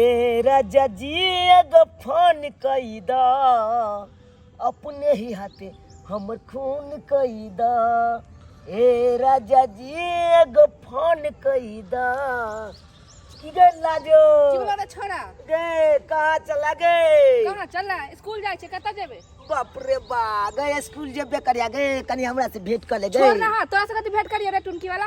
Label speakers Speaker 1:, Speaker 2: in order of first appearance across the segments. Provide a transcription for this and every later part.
Speaker 1: ए राजा जी एगो फोन कई द अपने ही हाथे हमर खून कई द ए राजा जी एगो फोन कई द की गे लाजो चुगला तो छोड़ा
Speaker 2: गे कहाँ
Speaker 1: चला गे कहाँ चला
Speaker 2: स्कूल जाए छे कतऽ जेबे बाप रे बा
Speaker 1: गए स्कूल जेबे करिया गे कनी हमरा से भेंट कर ले छोड़ गे ना हाँ, तोरा से कथी भेंट
Speaker 2: करिए रे टुनकी वाला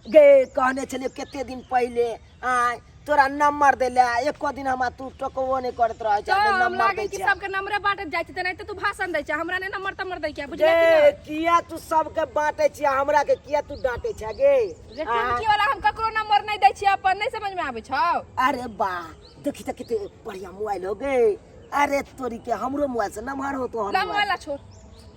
Speaker 2: गे कहने
Speaker 1: छलियो कते दिन पहिले आय तोरा नंबर देले एको दिन हमरा तू टोकबो नहि करत रहै छै हमे नंबर दै छै
Speaker 2: सबके नंबरे बाँटत जाइ छै तेनाहिते तू भाषण दै छै हमरा ने नंबर तंबर दै छै बुझले गे किया तू
Speaker 1: सबके बाँटे छी हमरा के किया तू डांटे छै गे जे टुमकी वाला
Speaker 2: हम ककरो नंबर नहि दै छी अपन नहि समझ में आबै छौ अरे बा
Speaker 1: देखी त कते बढ़िया मोबाइल हो गे अरे तोरी के हमरो मोबाइल से नंबर हो तो हम नंबर वाला छोड़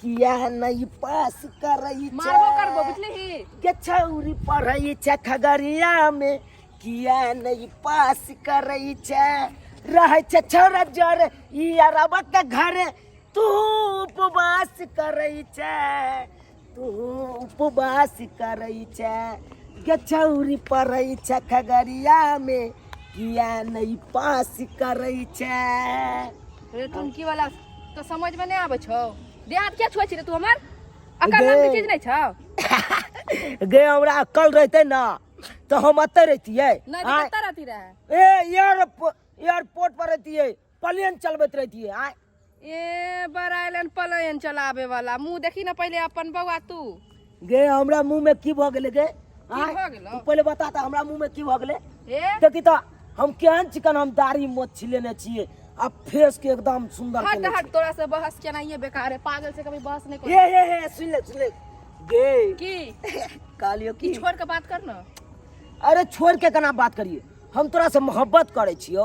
Speaker 1: किया नहीं पास करई मारबो करबो बुझली
Speaker 2: के छौरी
Speaker 1: पढ़ई छे खगड़िया में किया नहीं पास करई छे रहे छे छौरा जर ई अरबा के घरे तू उपवास करई छे तू उपवास करई छे के छौरी पढ़ई छे खगड़िया में किया नहीं पास करई छे रे
Speaker 2: टुनकी वाला तो समझ में नहीं आवे छौ देहात क्या छुआ छी रे तू हमर अकल नाम के चीज नहीं छौ गे हमरा अक्कल
Speaker 1: रहते ना तो हम अते रहतिए नहीं तो आय, कत्ता रहती
Speaker 2: रहे ए एयर
Speaker 1: एयरपोर्ट पर रहतिए प्लेन चलबैत रहतिए आय ए
Speaker 2: बड़ा आइलैंड पलायन चलावे वाला मुंह देखी ना पहले अपन बउआ तू गे हमरा
Speaker 1: मुंह में की भ गेले गे आय, भ गेलौ? तू
Speaker 2: पहिले बता
Speaker 1: त हमरा
Speaker 2: मुंह
Speaker 1: में की भ गेले हे देखी त
Speaker 2: हम
Speaker 1: केहन चिकन हम दाढ़ी मोछ छिलेने छिए आ फेस के एकदम सुंदर हट केने हट तोरा से बहस
Speaker 2: केना ये बेकार है पागल से कभी बहस नहीं छिए। कर हे हे हे सुन ले सुन ले
Speaker 1: गे की
Speaker 2: कहलियो
Speaker 1: की छोड़ के बात कर
Speaker 2: ना अरे
Speaker 1: छोड़ के केना बात करिए हम तोरा से मोहब्बत करे छियो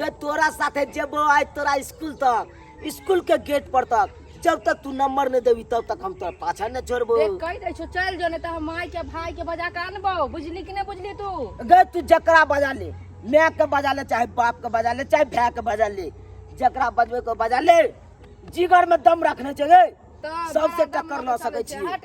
Speaker 2: गे तोरा साथे
Speaker 1: जेबो आइ तोरा स्कूल तक स्कूल के गेट पर तक जब तक तू नंबर नहीं देबी तब तक हम तोरा पाछा न छोड़बो देख कहि दै छौ चलि
Speaker 2: जो नहि तऽ हम माय के भाय के बजा कऽ अनबौ बुझली कि नहि बुझली तू गे तू जकरा
Speaker 1: बजा ले माय के बजा ले चाहे बाप के बजा ले चाहे भाय के बजा ले जकरा बजबे को बजा ले जिगर में दम रखने छै गे तऽ सबसे बड़ा
Speaker 2: दम टक्कर लऽ मचल
Speaker 1: सकै छै। छी। हट,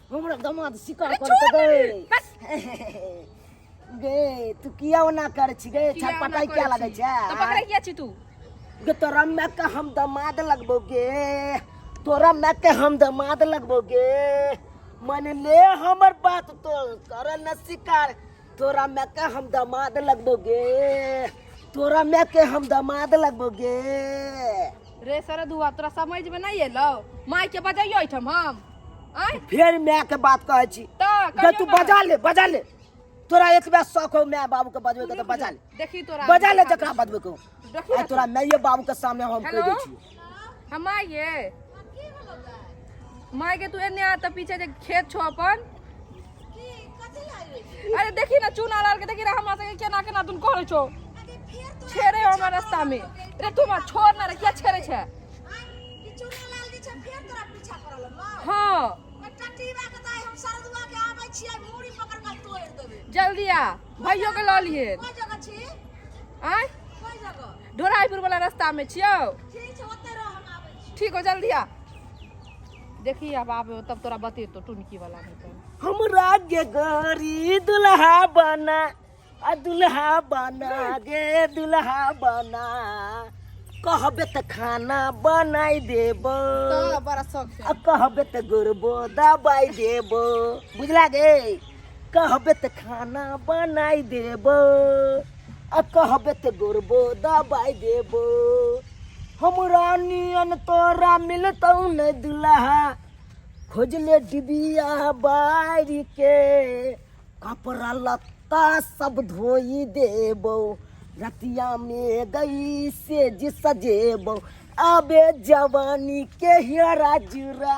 Speaker 1: हमरा दमाद शिकार कर छोड़ दे दे रे, बस।
Speaker 2: गे
Speaker 1: तू किया ओना कर छी गे किया छटपटाई ओना किया करै लगे छी? छै तऽ पकड़ै किया छी तू
Speaker 2: गे तोरा माय
Speaker 1: के हम दमाद लगबो गे तोरा माय के हम दमाद लगबो गे मन ले हमर बात तो कर न शिकार तोरा मैं के हम दामाद लगबोगे तोरा मैं के हम दामाद लगबोगे
Speaker 2: रे सरद हुआ तोरा समझ में नहीं एलो माय के बजाइयो एठम हम आय फिर मैं के बात
Speaker 1: कहै छी त जे कहियो तू ना। बजा
Speaker 2: ले
Speaker 1: बजा ले तोरा एक बेर शौक हो मैं बाबू के बजबे के तो बजा ले देखी तोरा बजा ले
Speaker 2: जकरा बजबे के
Speaker 1: हो। देखी आ ना तोरा मैं
Speaker 2: ये बाबू
Speaker 1: के सामने हम कह हेलो दै छी हमा ये
Speaker 2: माय के तू एने आ त पीछे जे खेत छो अपन अरे देखी ना चूना लाल के देखी ना हमरा सके केना केना तुम करे छो छेरे हमरा रास्ता में रे तू मा छोड़ ना रे किया छेरे छे
Speaker 3: हाँ जल्दी आ
Speaker 2: भाइयों के लऽ लिए
Speaker 3: आय ढोराईपुर वाला रास्ता
Speaker 2: में छियो ठीक छै ओते रह हम आबै
Speaker 3: छी ठीक हो जल्दी आ
Speaker 2: देखी अब आबे तब तोरा बतेतो टुनकी वाला में तो हम राज्य
Speaker 1: गोरी दुल्हा बना आ दुल्हा बना गे दुल्हा बना कहबे त खाना बनाई देबो तो बड़ा
Speaker 2: शौक से आ कहबे त गुरबो
Speaker 1: दबाई देबो बुझला गे कहबे त खाना बनाई देब आ कहबे त गोरबो दबाई देब हमरा नियन तोरा मिलतौ न दुल्हा खोजले डिबिया बारी के कपड़ा लत्ता सब धोई देब रतिया में गई से जी सजेब आबे जवानी के हियरा जुरा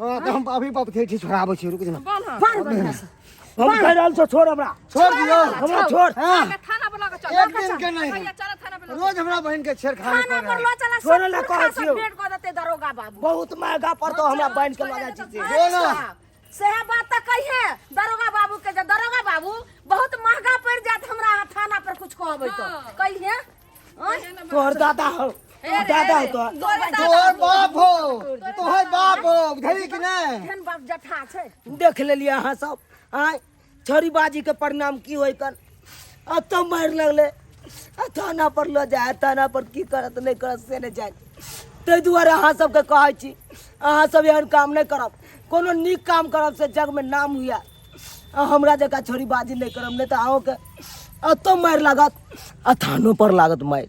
Speaker 3: हां त हम
Speaker 4: अभी बाप के ठीक छोड़ाबै छी रुक जा बांध बढ़िया से
Speaker 3: हम कह रहल छौ
Speaker 1: छोड़ हमरा छोड़ दियो हमरा
Speaker 4: छोड़ हां
Speaker 1: थाना पर लगा
Speaker 4: चल एक
Speaker 2: दिन के नहीं चल थाना
Speaker 4: पर रोज
Speaker 2: हमरा बहन के छेड़खानी
Speaker 4: कर थाना पर लो चला छोड़
Speaker 3: ले कह छियो पेट
Speaker 1: को देते दरोगा
Speaker 3: बाबू बहुत महंगा पड़तो
Speaker 1: हमरा बहन के लगा छी से जो ना
Speaker 4: सेहे बात त
Speaker 3: कहिए दरोगा बाबू के जे दरोगा बाबू बहुत महंगा पड़ जात हमरा थाना पर कुछ कहबै तो कहिए
Speaker 1: तोहर दादा हो दादा हो तोहर तोहर बाप
Speaker 4: हो तोहर बाप हो बुझली कि नहीं एहन बाप जठा
Speaker 3: छै देख लेलिए अहाँ
Speaker 1: सब आय छोरी बाजी के परिणाम की होय कन अत मार लगले आ थाना पर ल जाए थाना पर की करत नहीं करत से नहीं जाए ताहि दुआरे अहाँ सबके कहै छी अहाँ सब एहन काम नहीं करब कोनो नीक काम करब से जग में नाम हुआ आ हमरा जकाँ छोरी बाजी नहि करब नहि तऽ अहूँके अतो मारि लागत आ थानो पर लागत मारि